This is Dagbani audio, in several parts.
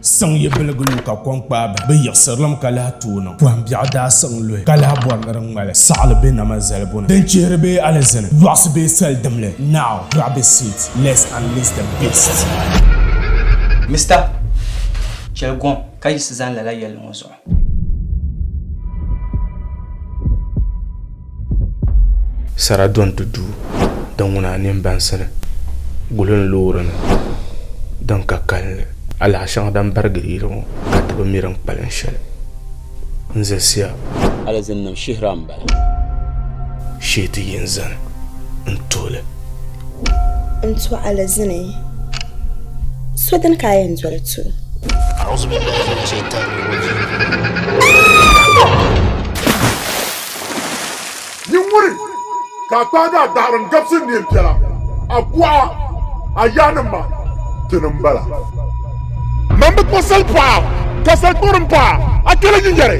siŋ yi biligi lu ka kom kpaai ba bi yiɣisirilim ka lahi tooi niŋ pɔhim biɛɣu daa siŋ luhi ka lahi bɔri ni di ŋmali saɣili bɛ nama zalibu ni din chihiri bee alizini lɔɣisi bee soli dimli now grab a seat let's unleash the beast Mister, chɛli gɔŋ ka yiɣisi zani lala yɛlli ŋɔ zuɣu. Sara donti duu din ŋuna a nini bansi ni guli n loori nim din ka kalinli alahi shɛŋa din barigi yili ŋɔ ka ti bi mi din kpalim shɛli n zasiya alizin nim shihira n bala shee ti yi n zani n tuhili n tɔɣa li zini so dini ka a yɛn doli tu Nyinguri ka a kpaagi a daɣiri n gabisi neen piɛla a buɣa a yaannim maa ti ni m-bala. Mani bi kpuɣi sali paɣa ka sali kpuɣiri m-paɣi a kpɛli nyinyɛri.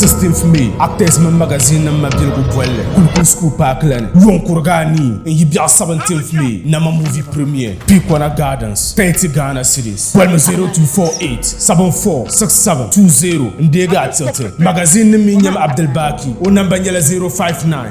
16th May actors mini magazine nim mabiligu bolli kulikun school park la ni yon kuriga anii n yi biɛɣu 17th May nama movie premiere Pikona Gardens 30 Ghana cedis bolimi 0248746720 n deegi a tiɣiti magazine nim mi nyɛmi Abdul Baki o namba nyɛla 059